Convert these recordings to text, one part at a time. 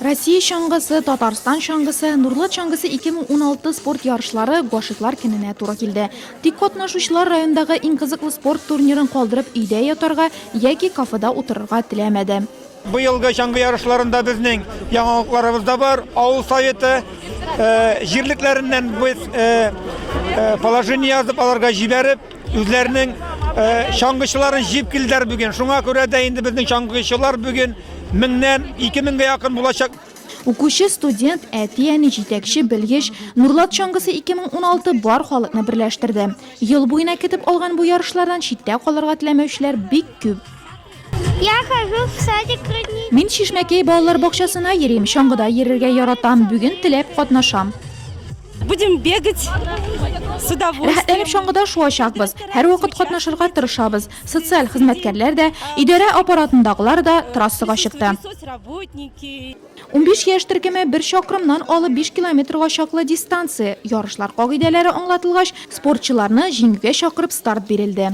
Россия чаңгысы, Татарстан чаңгысы, Нурлат чаңгысы 2016 спорт ярышлары Гашыйклар көненә туры килде. Тик катнашучылар райондагы иң кызыклы спорт турнирын калдырып өйдә ятарга яки кафеда утырырга теләмәде. Быелгы чаңгы ярышларында безнең яңалыкларыбыз да бар. Авыл советы җирлекләреннән без положение язып аларга җибәреп, Үзләренең э, чаңгычыларын җип килдер бүген. Шуңа күрә дә инде безнең чаңгычылар бүген меңнән 2000гә якын булачак. Укучы, студент, әти, әни, җитәкче, белгеч, Нурлат чаңгысы 2016 бар халыкны берләштерде. Ел буена көтеп алган бу ярышлардан читтә калырга теләмәүчеләр бик күп. Я хожу в садик родничок. Мин Шишмәкәй балалар бакчасына йөрим, чаңгыда йөрергә яратам. Бүген теләп катнашам. Будем бегать с удовольствием. Рәхәтләнеп чаңгыда шуачакбыз. Һәрвакыт катнашырга тырышабыз. Социаль хезмәткәрләр дә, идарә аппаратындагылар да трассага чыкты. Соцработники. 15 яшь төркеме бер чакрымнан алып 5 километрга чаклы дистанция. Ярышлар кагыйдәләре аңлатылгач, спортчыларны җиңүгә чакырып старт бирелде.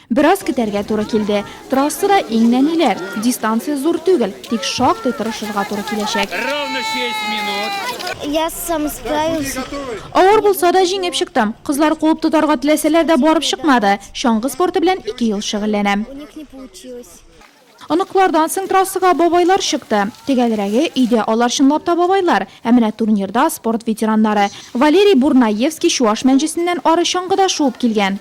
Бераз көтәргә туры килде. Трассада иң нәниләр. Дистанция зур түгел, тик шактый тырышырга туры киләчәк. Ровно шесть минут. Я сам справился. Авыр булса да, җиңеп чыктым. Кызлар куып тотарга теләсәләр дә, барып чыкмады. Чаңгы спорты белән ике ел шөгыльләнәм. У них не получилось. Оныклардан соң трассага бабайлар чыкты. Төгәлрәге, өйдә алар чынлап та бабайлар, ә менә турнирда, спорт ветераннары. Валерий Бурнаевский Чуаш Мәнҗесеннән ары чаңгыда шуып килгән.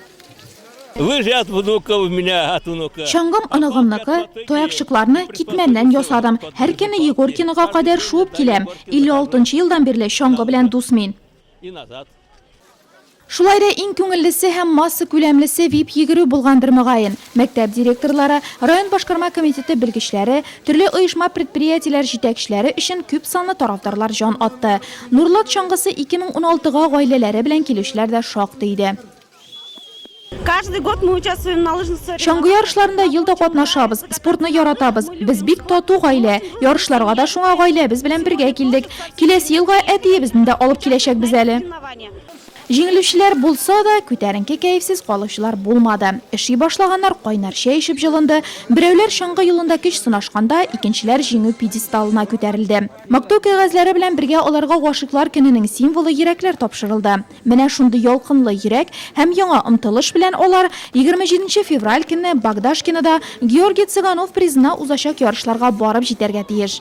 Лыжат внука у меня, от внука. Чаңгым оныгымныкы, таякчыкларны китмәннән ясадым. Һәр көнне Егоркинога кадәр шуып киләм. 56 нчы елдан бирле чаңгы белән дус мин. Шулай да иң күңеллесе һәм массакүләмлесе вип-йөгерү булгандыр, мөгаен. Мәктәп директорлары, район башкарма комитеты белгечләре, төрле оешма-предприятиеләр җитәкчеләре өчен күп санлы тарафдарлар җан атты. Нурлат чаңгысы 2016 га гаиләләре белән килүчеләр дә шактый иде. Каждый год мы участвуем на лыжных соревнованиях. Чаңгы ярышларында ел да катнашабыз. Спортны яратабыз. Без бик тату гаилә. Ярышларга да шуңа гаиләбез белән бергә килдек. Киләсе елга әтиебезне дә алып киләчәкбез әле. Җиңелүчеләр булса да, күтәренке кәефсез калучылар булмады. Эши башлаганнар кайнар чәй эчеп җылынды, берәүләр чаңгы юлында көч сынашканда, икенчеләр җиңү пьедесталына күтәрелде. Мактау кәгазьләре белән бергә аларга Гашыйклар көненең символы йөрәкләр тапшырылды. Менә шундый ялкынлы йөрәк һәм яңа омтылыш белән алар егерме җиденче февраль көнне Богдашкинода Георгий Цыганов призына узачак ярышларга барып җитәргә тиеш.